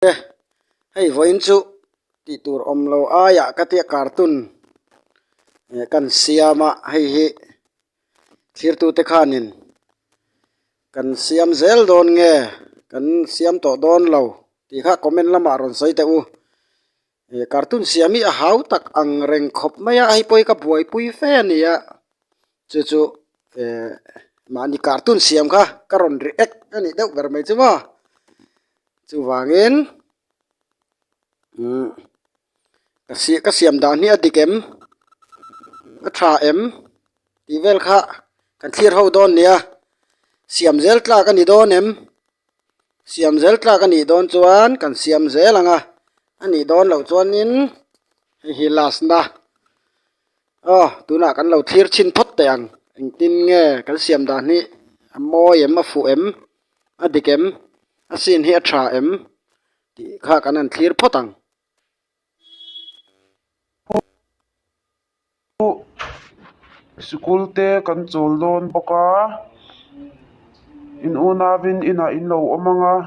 e hei vawiin chu tih tur awm lo aiah ka tia carton eh kan siam a hei hi thlir tu te khanin kan siam zel dawn nge kan siam tawh dawn lo tih kha comment lamah rawn sawi teh u. He cartoon siam hi a hau tak ang reng khawp mai a hei pawh hi ka buaipui fe a ni a chu chu ehh mahni cartoon siam kha ka rawn ri ek a nih deuh ber mai chu maw chuvangin umm ka siam dan hi a dik em a tha em. tih vel kha kan thlir ho dawn nia siam zel tlak a ni dawn em siam zel tlak a nih dawn chuan kan siam zel ang a a nih dawn loh chuanin hei hi last na aw tunah kan lo thlir chhin phawt teh ang engtin nge kan siam dan hi a mawi em a fuh em a dik em a sin hi a tha em tih kha kan han thlir phawt ang. Chu sikul te kan chawl dawn bawk a, in un avin inah in lo awm ang a,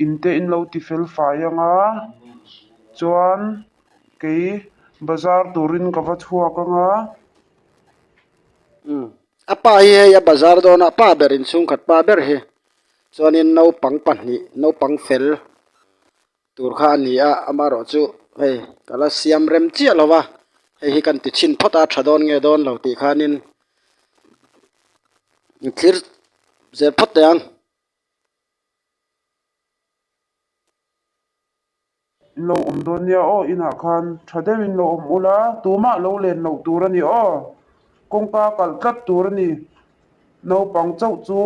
in te in lo ti fel fai ang a, chuan kei bazar turin ka va chhuak ang a. Umm, a pa hi hei a bazar dawn a, a pa berin chhungkhat pa ber hi, chuanin naupang pahnih, naupang fel Tur kha a ni a, amaherawh chu hei ka la siam rem chiah lo va, hei hi kan ti chhin phawt a, tha dawn nge dawn lo tih khanin i thlir zel phawt teh ang. In lo awm dawn nia aw, inah khan tha deuh in lo awm ula, tumah lo len loh tur a ni aw, kawngka kalh tlat tur a ni, Naupang chauh chu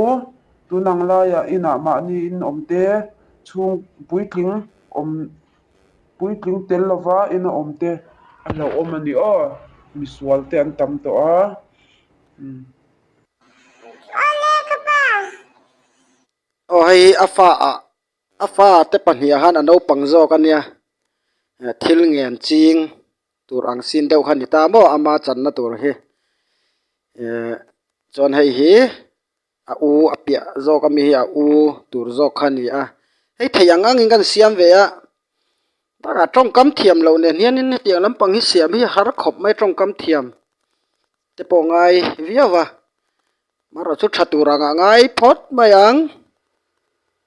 tun ang laia inah mahni in awmte chhung puitling awm puitling tel lova in a awm te a hlauhawm a ni aw, misual te an tam tawh a umm. Aw le ka pa. Aw hei hi a fa ah A fa te pahnih ah hian a naupang zawk a nia eh thil ngen ching tur ang sin deuh kha a ni ta maw ama channa tur hi eh chuan hei hi a u a piah zawk ami hi a u tur zawk kha a ni a hei theih ang ang in kan siam ve a takah tawngkam thiam loh nen hian in heti ang lampang hi siam hi har khawp mai tawngkam thiam te pawh ngai viau a amarawhchu tha tur ang ah ngai phawt mai ang.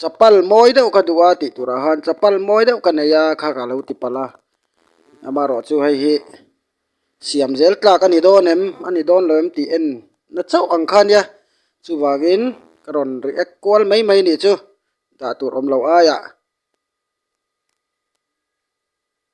Chapal mawi deuh ka duh a tih turah han chapal mawi deuh ka nei a kha ka lo ti palh a, amarawh chu hei hi siam zel tlak a ni dawn em, a ni dawn lo em tih en na chauh ang kha nia, chuvangin ka rawn react kual mai mai nih chu dah tur awm loh aiah.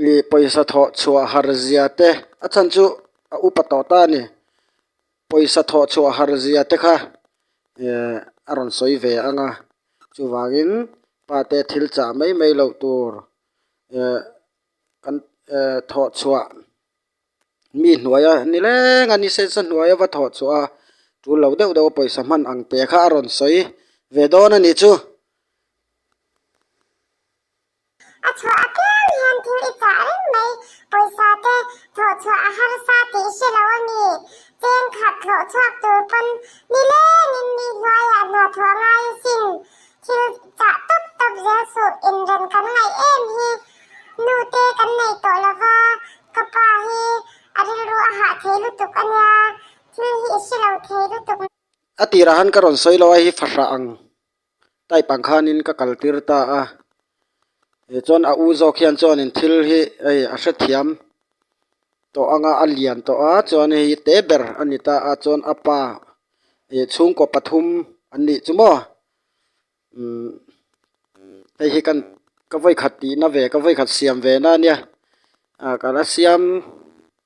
mi pawisa thawh chhuah harzia te a chhan chu a upa tawh ta a ni pawisa thawh chhuah harzia te kha ehh a rawn sawi ve ang a chuvangin pa te thil chah mai mai loh tur ehh kan ehh thawh chhuah mi hnuaia ni leng a ni se se hnuaia va thawh chhuah a tul lo deuh deuh a pawisa hman ang te kha a rawn sawi ve dawn a ni chu. A chhuah a tliang hian thil i chah reng mai. Pawisa te thlawh chhuah a harsa tih i hre lo a ni. Cheng khat thlawh chhuak tur pawn ni leng in mi hluaiah hnathawh a ngai a sin. Thil chah tawp tawp zel suh inrem kan ngaih em hi nu te kan nei tawh lo va, ka pa hi a rilru a hah thei lutuk a nia, thil hi i hre lo thei lutuk. A tirah han ka rawn sawi lo a, hi fahrah ang. Type ang khanin ka kal tir ta a, eh chuan a u zawk hian chuanin thil hi hei a hrethiam tawh anga a lian tawh a, chuan hei hi te ber a ni ta a, chuan a pa eh chhungkaw pathum an nih chu maw umm hei hi kan ka vawikhat tihna ve ka vawikhat siam ve na nia, ah kan a siam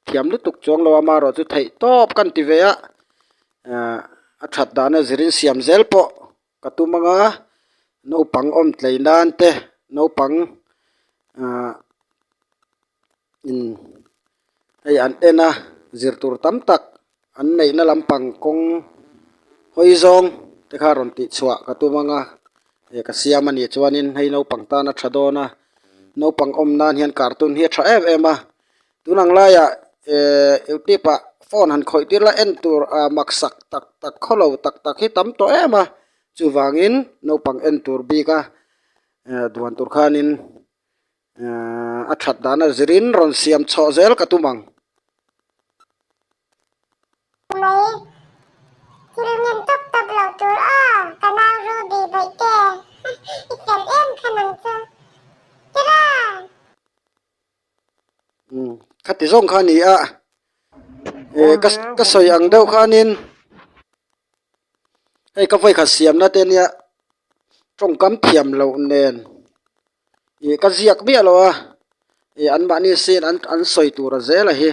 Thiam lutuk chuang lo a ma erawh chu theih tawp ka han ti ve a, ah a that dahna zir in siam zel pawh ka tum ang a, naupang awm tlei nan te naupang ah in hei an en a zir tur tam tak an neih na lam pang kawng hawi zawng te kha rawn tih chhuah ka tum ang a, eh ka siam a nih chuan in hei naupang tan a tha dawn a, naupang awm nan hian cartoon hi a tha em em a, Tun ang laia Youtube ah phone han khawih tir la en tur ah maksak tak tak khawlo tak tak hi tam tawh em a, chuvangin naupang en tur bik a duan tur khanin a that dan a zir in rawn siam chawh zel ka tum ang. khati zawng kha nia ehh ka ka sawi ang deuh khanin hei ka vawi khat siam nate nia tawngkam thiam loh nen ih ka ziak miah loh a ih anmahni sin an sawi tura zela hi.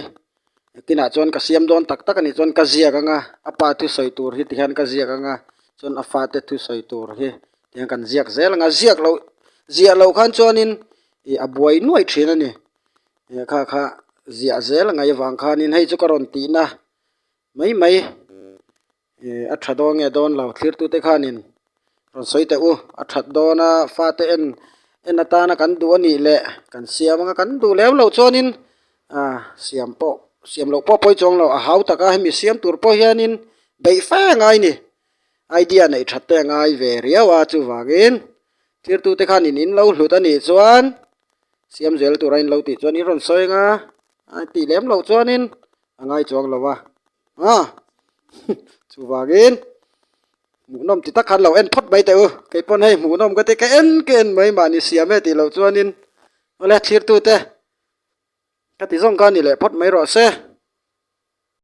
a tinah chuan ka siam dawn tak tak a ni chuan ka ziak ang a a pa thu sawi tur hi tihian ka ziak ang a chuan a fate thu sawi tur hi tihian kan ziak zel ang a ziak loh ziah loh khan chuanin ih a buai nuaih thin a ni ih kha kha ziah zel angai avang khanin hei chu ka rawn tihna mai mai. A tha dawn nge dawn lo thirtute khanin rawn sawi teh u a that dawn a fate en en atana kan duh a nih leh kan siam anga kan duh leh lo chuanin ah siam pawh siam loh pawh a pawi chuang lo a hau taka hemi siam tur pawh hianin beih fe a ngai ni idea neih that te a ngai ve riau a chuvangin thirtute khanin in lo hlut a nih chuan siam zel tura in lo tih chuan in rawn sawi anga a tih lem loh chuanin. a ngai chuang lo va a chuvangin hmuhnawm ti tak khan lo en phawt mai teh u kei pawn hei hmuhnawm ka ti ka en ka en mai mahni siam e tih loh chuanin awle thlir tute ka ti zawng kha a ni leh phawt mai rawh se.